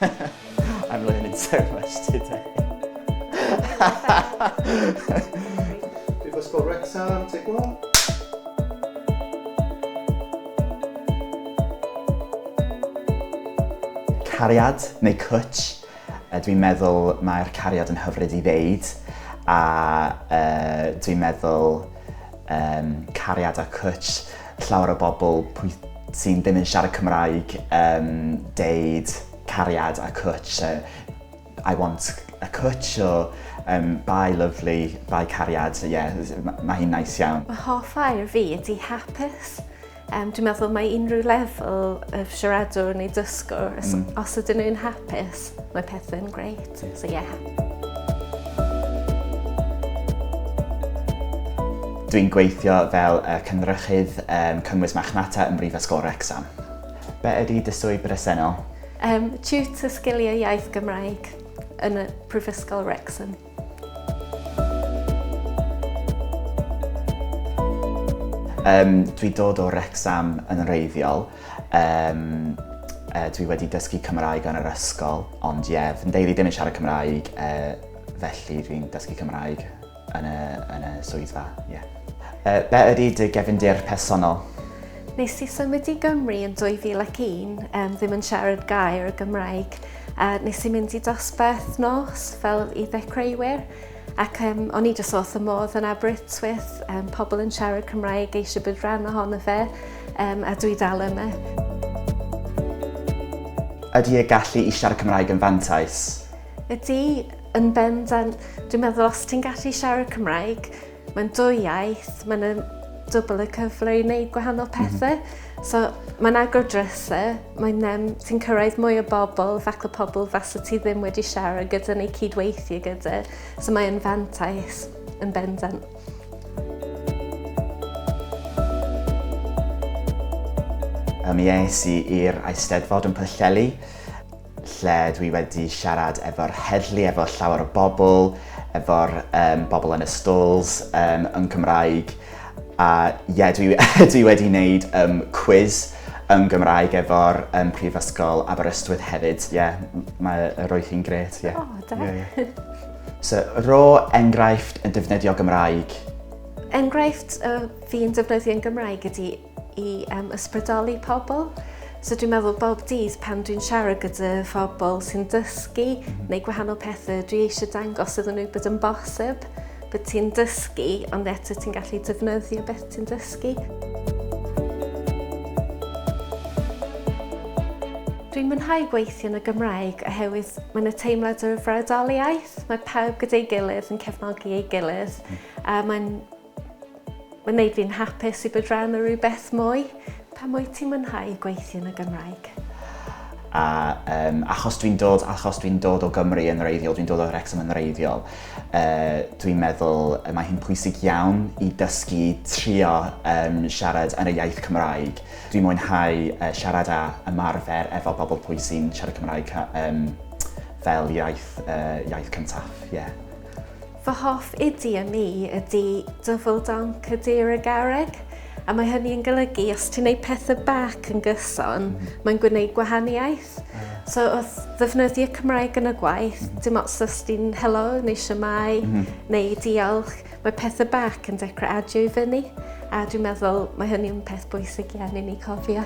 I'm learning so much today. Prifysgol Wrecsam, take one. Cariad neu cwtch? Dwi'n meddwl mae'r cariad yn hyfryd i ddeud a uh, dwi'n meddwl um, cariad a cwtch llawer o bobl pwy sy'n ddim yn siarad Cymraeg yn deud cariad a cwtsh, I want a cwtsh o um, bye lovely, bye cariad, ie, yeah, mae ma hi'n nice iawn. Mae hoff air fi ydi hapus. Um, dwi'n meddwl mae unrhyw lefel y siaradwr neu dysgwr, mm. os ydyn nhw'n hapus, Mae pethau'n great, so yeah. Dwi'n gweithio fel uh, cynrychydd um, cynnwys machnata yn Brifysgol Wrexham. Be ydy dy swydd bresennol? Um, tutor sgiliau iaith Gymraeg yn y Prifysgol Wrexham. Um, dwi dod o Rexham yn wreiddiol. Um, uh, dwi wedi dysgu Cymraeg yn yr ysgol, ond ie, yeah, fy ndeulu ddim yn siarad Cymraeg, uh, felly dwi'n dysgu Cymraeg yn y, yn y swyddfa. Yeah. Uh, be ydy dy gefndir personol? Nes i symud i Gymru yn 2001, um, ddim yn siarad gair y Gymraeg. A nes i mynd i dosbarth nos fel i ddechreuwyr ac um, o'n i jyst wrth y modd yn Aberystwyth, um, pobl yn siarad Cymraeg eisiau bod rhan ohono fe um, a dwi dal yma. Ydy y gallu i siarad Cymraeg yn fantais? Ydy, yn bendant. Dwi'n meddwl os ti'n gallu siarad Cymraeg, Mae'n dwy iaith, mae'n dwbl y cyfle i wneud gwahanol pethau. Mm -hmm. So mae'n agor drysau, mae'n um, ti'n cyrraedd mwy o bobl, fac o pobl fasa ti ddim wedi siarad gyda neu cydweithio gyda. So mae'n fantais yn bendant. Mi es i i'r Eisteddfod yn Pwllheli lle dwi wedi siarad efo'r heddlu, efo llawer o bobl, efo'r um, bobl yn y stalls um, yn Cymraeg. A ie, yeah, dwi, dwi wedi wneud um, quiz yn Gymraeg efo'r um, Prifysgol Aberystwyth hefyd. Ie, yeah, mae roedd hi'n gret, ie. Yeah. Oh, da. Yeah, yeah. So, ro enghraifft yn defnyddio Gymraeg. Enghraifft uh, fi'n defnyddio'n Gymraeg ydy i um, ysbrydoli pobl. So dwi'n meddwl bob dydd pan dwi'n siarad gyda phobl sy'n dysgu neu gwahanol pethau, dwi eisiau dangos iddyn nhw bod yn bosib, bod ti'n dysgu, ond eto ti'n gallu defnyddio beth ti'n dysgu. Dwi'n mwynhau gweithio yn y Gymraeg oherwydd mae yna teimlad o frawdoliaeth, mae pawb gyda'i gilydd yn cefnogi ei gilydd, hmm. a mae'n Mae'n neud fi'n hapus i bod rhan o rhywbeth mwy. Pam wyt ti'n mwynhau gweithio yn y Gymraeg? A um, achos dwi'n dod, achos dwi'n dod o Gymru yn reiddiol, dwi'n dod o Wrexham yn reiddiol, uh, dwi'n meddwl uh, mae hi'n pwysig iawn i dysgu trio um, siarad yn y iaith Cymraeg. Dwi'n mwynhau uh, siarad a ymarfer efo bobl pwy sy'n siarad Cymraeg um, fel iaith, uh, iaith cyntaf. Yeah. Fy hoff idi a mi ydi Double Donk y Deer y Garreg, a mae hynny yn golygu os ti'n neud pethe bac yn gyson, mae'n gwneud gwahaniaeth. So wrth ddefnyddio Cymraeg yn y gwaith, dim ots os ti'n helo neu siamau neu diolch, mae pethe bac yn dechrau adio i fyny, a dwi'n meddwl mae hynny'n peth bwysig iawn i ni cofio.